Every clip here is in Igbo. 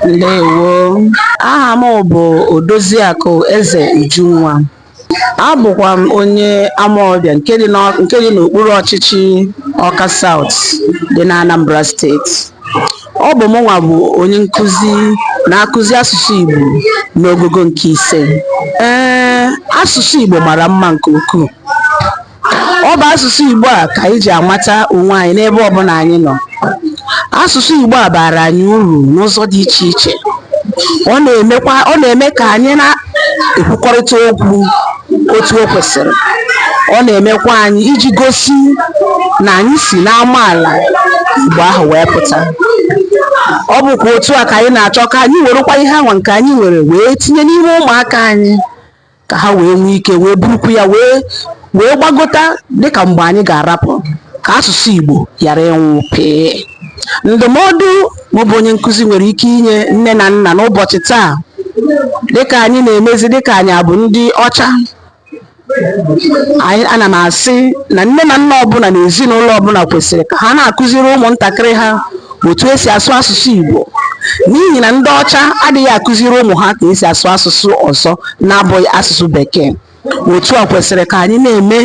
Ndewo. Aha m bụ Odoziakụ Eze Ujunwa. Abụkwa m onye Amawbịa nke dị n'Ọ- nke dị n'okpuru ọchịchị Ọka South dị n'Anambra steeti. Ọ bụ mụnwa bụ onye nkụzi na-akụzi asụsụ Igbo n'ogogo nke ise. Ee, asụsụ Igbo mara mma nke ukwuu. Ọ bụ asụsụ Igbo a ka anyị ji amata onwe anyị n'ebe ọbụla anyị nọ. Asụsụ Igbo a baara anyị uru n'ụzọ dị iche iche. Ọ na-emekwa ọ na-eme ka anyị na-ekwukọrịta okwu otu o kwesịrị. Ọ na-emekwa anyị iji gosi na anyị si n'amaala Igbo ahụ wee pụta. Ọ bụkwa otu a ka anyị na-achọ ka anyị werekwa ihe anwa nke anyị nwere wee tinye n'ime ụmụaka anyị. ka ha wee nwee ike wee burukwu ya wee wee gbagota dịka mgbe anyị ga-arapụ ka asụsụ Igbo ghara ịnwụ pịị ndụmọdụ mụ bụ onye nkụzi nwere ike inye nne na nna n'ụbọchị taa dịka anyị na-emezi dịka anyị abụ ndị ọcha anyị ana m asị na nne na nna ọbụla na ezinụlọ ọbụla kwesịrị ka ha na-akụziri ụmụntakịrị ha otu e si asụ asụsụ Igbo n'ihi na ndị ọcha adịghị akụziri ụmụ ha ka e si asụ asụsụ ọzọ na-abụghị asụsụ bekee otu a kwesịrị ka anyị na-eme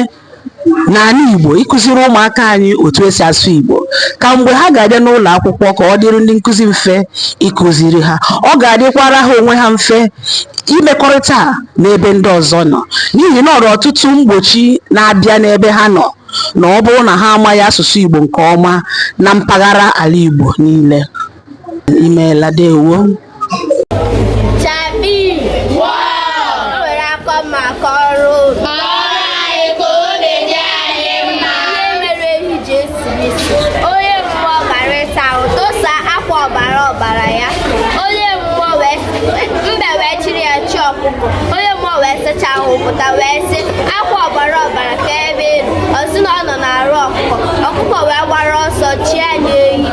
n'ala Igbo ịkụziri ụmụaka anyị otu e si asụ Igbo ka mgbe ha ga-abịa n'ụlọ akwụkwọ ka ọ dịrị ndị nkụzi mfe ịkụziri ha ọ ga-adịkwara ha onwe ha mfe imekọrịta n'ebe ndị ọzọ nọ n'ihi na o nwere ọtụtụ mgbochi na-abịa n'ebe ha nọ na ọ bụrụ na ha amaghị asụsụ Igbo nke ọma na mpaghara ala Igbo niile. Imeela ndewo. ebe ị nọ ọ sị na ọ nọ n'arụ ọkụkọ ọkụkọ wee gbara ọsọ chinye ya ehi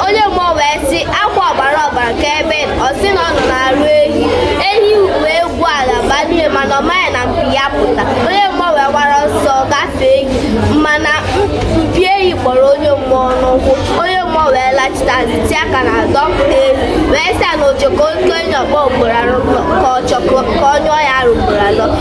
onye mmụọ wee sị akwa ọgbara ọgbara ka ebe ị nọ ọ sị na ọ nọ n'arụ ehi ehi wee gwuo ala banye mana ọ maghị na mpi ya pụta onye mmụọ wee gbara ọsọ gafee ehi mana mpi ehi kpọrọ onye mmụọ n'ụkwụ onye mmụọ wee lachita azụ tie aka n'ana dọpụta ehi wee sị ya na ọ chọkọ ka o nye ya ọkpọ ugboro anọ ka ọ chọkọ ka ọ nyụọ ya arụ ugboro anọ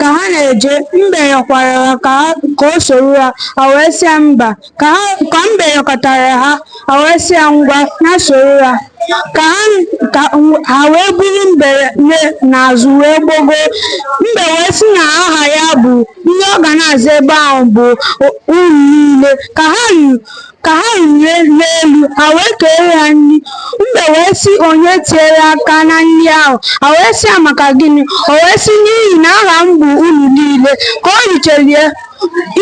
Ka ha na-eje, mbe yọkwara ha ka o soro ha, ha wee sị ya mba. Ka mbe yọkatara ha, ha wee sị ya ngwa, ya soro ha. Ka ha wee buru mbe n'azụ wee gbogoo. Mbe wee sị na aha ya bụ ihe ọ ga na-aza ebe ahụ bụ unu niile. Ka ha ruru Ka ha ruru n'elu, ha wee keere ha nri. Mbe wee sị, Onye tinyere aka na nri ahụ? Ha wee sị ya, Maka gịnị? O wee sị, N'ihi na aha m bụ unu niile. Ka o richara ya,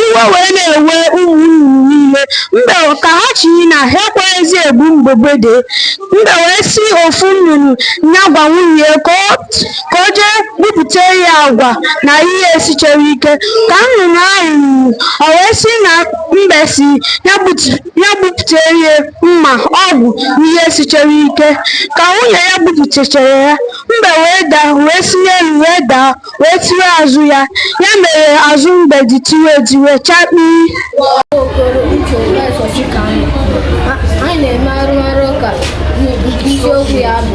iwe wee na-ewe ụmụ nnụnụ niile. Mbe ka ha chọrọ ịna, ha ekweghịzi ebu mbe gbada. Mbe wee sị ofu nnụnụ ya gwa nwunye ya ka o ka o jee bupụtara ya akwa na ihe esichaghị ike ka nnụnụ ahụ ruru o wee sị na mbe sị ya bupụtara ya mma ọgụ na ihe sichara ike ka nwunye ya bupụtachara ya mbe wee daa wee si n'elu wee daa wee tiwe azụ ya ya mere azụ mbe ji tiwe etiwe chakpii anyị na-eme arụmarụ ụka isiokwu ya bụ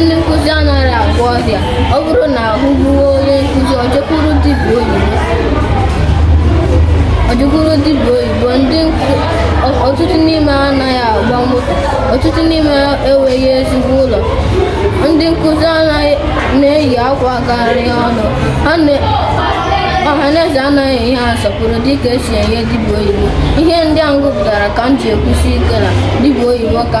ndị nkụzi anaghị agwọ ọrịa ọ bụrụ na ahụ gbuo onye nkụzi o jekwuru dibịa oyibo ọtụtụ n'ime ha anaghị agba moto ọtụtụ n'ime ha enweghị ezigbo ụlọ ndị nkụzi anaghị na-eyi akwa gara ọnụ ọhaneze anaghị enye ha nsọpụrụ dịka e si enye dibịa oyibo ihe ndị a m gụpụtara ka m ji ekwusi ike na dibịa oyibo ka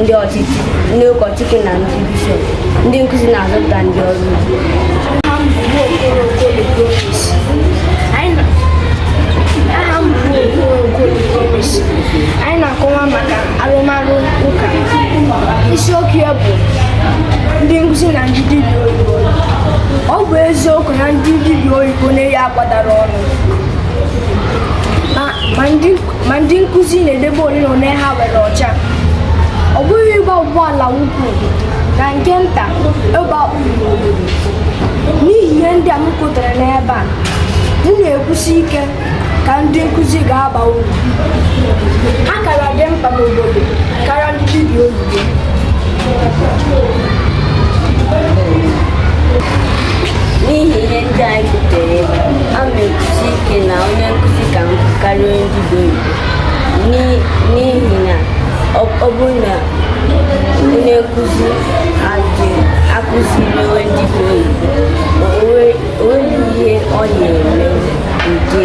ndị ọchịchị ndị ụkọchukwu na ndị bishọp ndị nkụzi na-azụpụta ndị ọrụ anyị na-akọwa maka arụmarụ ụka isiokwu ya bụ ndị nkụzi na ndị dibịa oyibo ọ bụ eziokwu na ndị dibịa oyibo na-eyi akwa dara ọnụ ma ndị ma ndị nkụzi na-edebe ole na ole ha nwere ọcha ọ bụghị ịgba ụgbọala ukwu na nke nta bụ ịba uru n'obodo n'ihi ihe ndị a m kwutere n'ebe a m na-ekwusi ike ka ndị nkụzi ka aba uru ha kara dị mkpa n'obodo karịa ndị dibịa oyibo n'ihi ihe ndị anyị kwutere ebe a, a m na-ekwusi ike na onye nkụzi ka mkpa karịa onye dibịa oyibo N'i- n'ihi na ọ ọ bụrụ na onye nkụzi adị akụziri onye dibịa oyibo o nwe- o nweghị ihe ọ na-eme nke